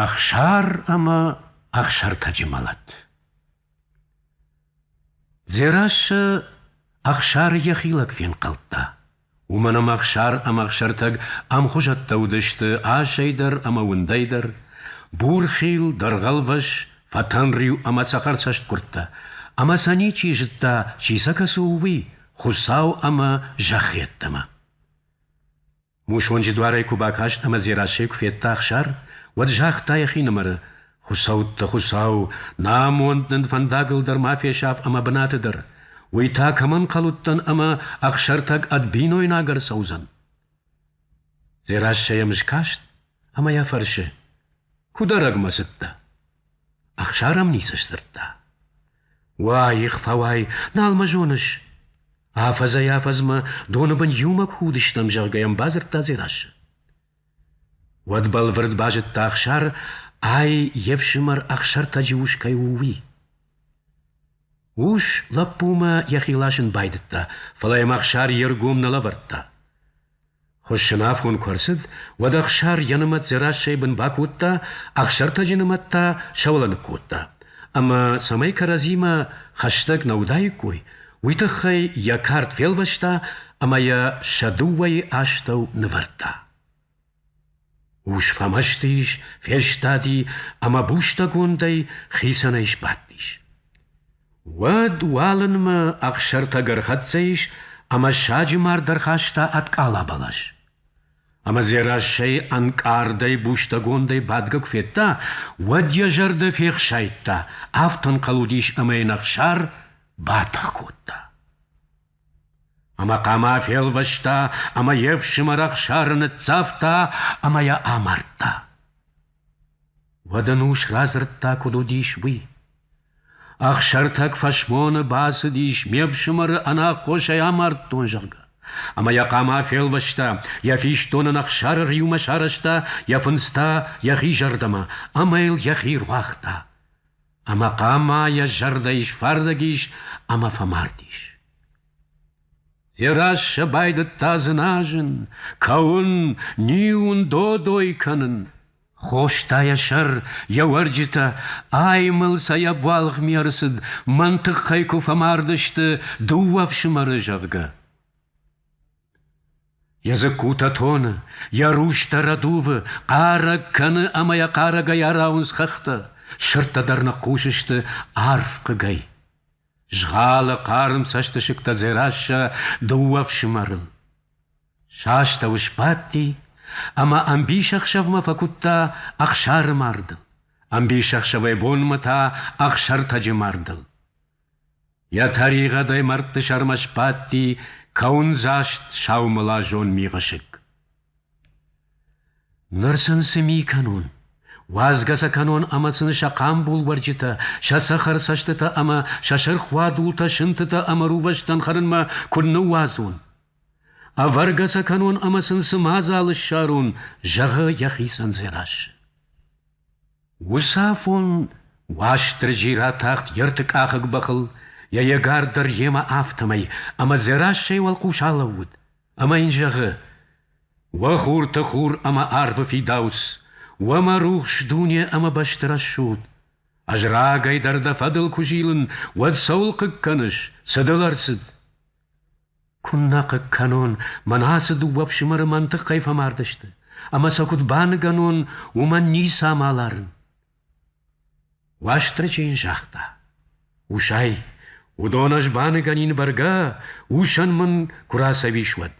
Ӕхсар ӕмӕ Ӕхсӕртӕджы мӕлӕт Дзерассӕ Ӕхсары йӕхи лӕг фенхъӕлдта. Уымӕн ӕмӕ Ӕхсар ӕмӕ Ӕхсӕртӕг ӕмхуызӕттӕ уыдысты асӕй дӕр ӕмӕ уындӕй дӕр: бурхил, дӕргъӕлвӕс, фӕтӕнриу ӕмӕ цӕхӕрцӕстгуырдтӕ. Ӕмӕ сӕ ничи зыдта, чи сӕ кӕцы у, уый, Хуыцау ӕмӕ зӕххы йеддӕмӕ. Мусонджы дуарӕй куы бакаст ӕмӕ Дзерассӕйы куы федта Ӕхсар, уӕд загъта йӕхинымӕры: «Хуыцӕутты Хуыцау, нӕ амонд нын фӕндагыл дӕр ма фесаф ӕмӕ бынаты дӕр. уый та кӕмӕн кӕлудтӕн ӕмӕ Ӕхсӕртӕг ӕд бинойнаг ӕрцӕудзӕн?» Дзерассӕ йӕм скаст ӕмӕ йӕ фӕрсы: «Куыд ӕрӕгмӕ цыдтӕ?» Ӕхсар ӕм ницы сдзырдта. Уаих фӕуай, нал мӕ зоныс? Афӕдзӕй-афӕдзмӕ доны бын иумӕ куы уыдыстӕм, зӕгъгӕ йӕм бадзырдта Дзерассӕ. Уӕд бӕлвырд базыдта Ӕхсар, ай йе фсымӕр Ӕхсӕртӕджы ус кӕй у, уый. Ус лӕппумӕ йӕхи ласын байдыдта, фӕлӕ йӕм Ӕхсар йе ргом нӕ лӕвӕрдта. Хуыссынафон куы ӕрцыд, уӕд Ӕхсар йӕ нымӕт Дзерассӕйы бын бакодта, Ӕхсӕртӕджы нымӕт та сӕуылӕныг кодта. Ӕмӕ, цӕмӕй кӕрӕдзимӕ хӕстӕг нӕ уыдаиккой, уый тыххӕй йӕ кард фелвӕста ӕмӕ йӕ сӕ дыууӕйы астӕу нывӕрдта. Ус фӕмӕсты ис, фестади ӕмӕ бустӕгондӕй хицӕнӕй сбадтис. Уӕд уалынмӕ ӕхсӕртӕг ӕрхӕццӕ ис ӕмӕ саджы мард ӕрхаста ӕд къала бӕлас. Ӕмӕ Дзерассӕйы ӕнкъардӕй бустӕгондӕй бадгӕ куы федта, уӕд йӕ зӕрдӕ фехсайдта, афтӕ ӕнхъӕл уыдис, ӕмӕ йын Ӕхсар батых кодта. Ӕмӕ хъама фелвӕста, ӕмӕ йе фсымӕр Ӕхсары ныццавта ӕмӕ йӕ амардта. Уӕд ын ус радзырдта, куыд уыдис, уый. Ӕхсӕртӕг фӕсмоны бацыдис, ме фсымӕры ӕнаххосӕй амардтон, зӕгъгӕ. Ӕмӕ йӕ хъама фелвӕста, йӕ фистон ын Ӕхсары риумӕ сарӕзта, йӕ фындз та йӕхи зӕрдӕмӕ, ӕмӕ йыл йӕхи руагъта. ӕмӕ хъама йӕ зӕрдӕйы сфардӕг ис ӕмӕ фӕмард ис. Дзерассӕ байдыдта дзыназын, кӕуын, ниуын, додой кӕнын. Хоста йӕ сӕр, йӕ уӕрджытӕ, аймыл сӕ йӕ буалгъми ӕрцыд, мӕн тыххӕй куы фӕмардысты дыууӕ ӕфсымӕры, зӕгъгӕ. Йӕ дзыккутӕ тоны, йӕ рустӕ рӕдувы, хъарӕг кӕны ӕмӕ йӕ хъарӕгӕй арауынц хӕхтӕ, сырдтӕ дӕр ныхъхъус сты арф хъыгӕй. Згъалы хъарм цӕстысыгтӕ Дзерассӕ дыууӕ фсымӕры. Сӕ астӕу сбадти ӕмӕ ӕмбисӕхсӕвмӕ фӕкуыдта ӕхсары марды, ӕмбисӕхсӕвӕй бонмӕ та ӕхсӕртӕджы мардыл. Йӕ тӕригъӕдӕй мӕрдты сӕрмӕ сбадти кӕуындзаст саумылазон мигъысыг. Ныр сын цы ми кӕнон? Уадзгӕ сӕ кӕнон ӕмӕ сын сӕ хъамбул уӕрджытӕ, сӕ цӕхӕр цӕстытӕ ӕмӕ сӕ сырх уадултӕ сынтытӕ ӕмӕ рувӕстӕн хӕрынмӕ куы ныууадзон. Ӕвӕргӕ сӕ кӕнон ӕмӕ сын цы мадзал ссарон, зӕгъы йӕхицӕн Дзерассӕ. Уыцы афон Уастырджи ратахт йе ртыкъахыг бӕхыл, йӕ егар дӕр йемӕ афтӕмӕй, ӕмӕ Дзерассӕйы уӕлхъус алӕууыд, ӕмӕ йын зӕгъы: «Уӕ хурты хур ӕмӕ арвы фидауц, уӕ мӕ рухс дуне ӕмӕ бӕсты рӕсугъд! Ӕз рагӕй дӕр дӕ фӕдыл куы зилын, уӕд цӕуыл хъыг кӕныс, цы дыл ӕрцыд?» Куыннӕ хъыг кӕнон, мӕн ацы дыууӕ фсымӕры мӕн тыххӕй фӕмардысты, ӕмӕ сӕ куыд баныгӕнон, уымӕн ницӕмӕ ларын. Уастырджи йын загъта: «Усай, уыдон ӕз баныгӕнин бӕргӕ, усӕн мын куы рацӕуис, уӕд».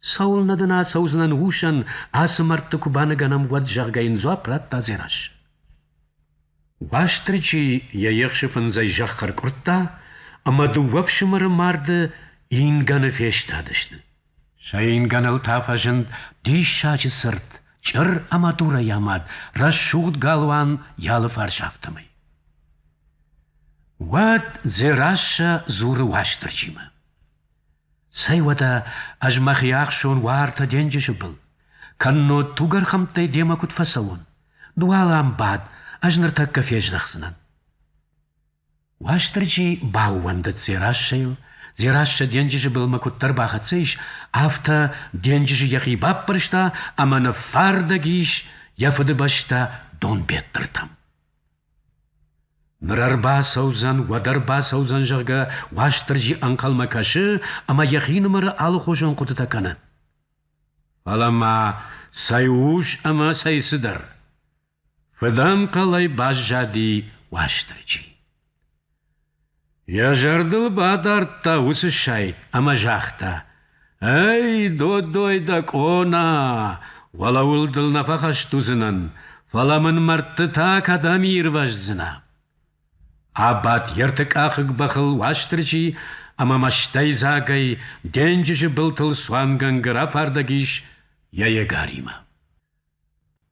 Цӕуылнӕ дын ацӕудзынӕн усӕн, ацы мӕрдты куы баныгӕнӕм, уӕд, зӕгъгӕ, йын дзуапп радта Дзерас. Уастырджи йӕ ехсы фындзӕй зӕхх ӕркъуырдта, ӕмӕ дыууӕ фсымӕры марды ингӕны фестадысты. Сӕ ингӕныл та фӕзынд диссаджы цырт, чъыр ӕмӕ дурӕй амад, рӕсугъд галуан йӕ алыфарс афтӕмӕй. Уӕд Дзерассӕ дзуры Уастырджимӕ. Цӕй уӕдӕ ӕз мӕхи ӕхсон уартӕ денджызы был, кӕннод тугӕрхӕмттӕй демӕ куыд фӕцӕуон? Ды уал ам бад, ӕз ныртӕккӕ фездӕхдзынӕн. Уастырджи баууӕндыд Дзерассӕйыл, Дзерассӕ денджызы былмӕ куыддӕр бахӕццӕ ис, афтӕ денджызы йӕхи баппӕрста ӕмӕ ныффардӕг ис йӕ фыдыбӕстӕ Донбеттыртӕм. Ныр ӕрбацӕудзӕн, уӕд ӕрбацӕудзӕн, зӕгъгӕ, Уастырджи ӕнхъӕлмӕ кӕсы ӕмӕ йӕхинымӕры алыхуызон хъуыдытӕ кӕны. Фӕлӕ ма цӕй ус ӕмӕ цӕй цыдӕр! Фыдӕнхъӕлӕй баззади Уастырджи. Йӕ зӕрдыл бадардта уыцы сайт ӕмӕ загъта: «Эй, Додой дӕ къона, уӕлӕ уыл дыл нӕ фӕхӕст уыдзынӕн, фӕлӕ мын мӕрдтытӕ кӕдӕм ирвӕздзынӕ?» Абадт йе ртыкъахыг бӕхыл Уастырджи ӕмӕ мӕстӕйдзагӕй денджызы былтыл цуангӕнгӕ рафардӕг ис йӕ егаримӕ.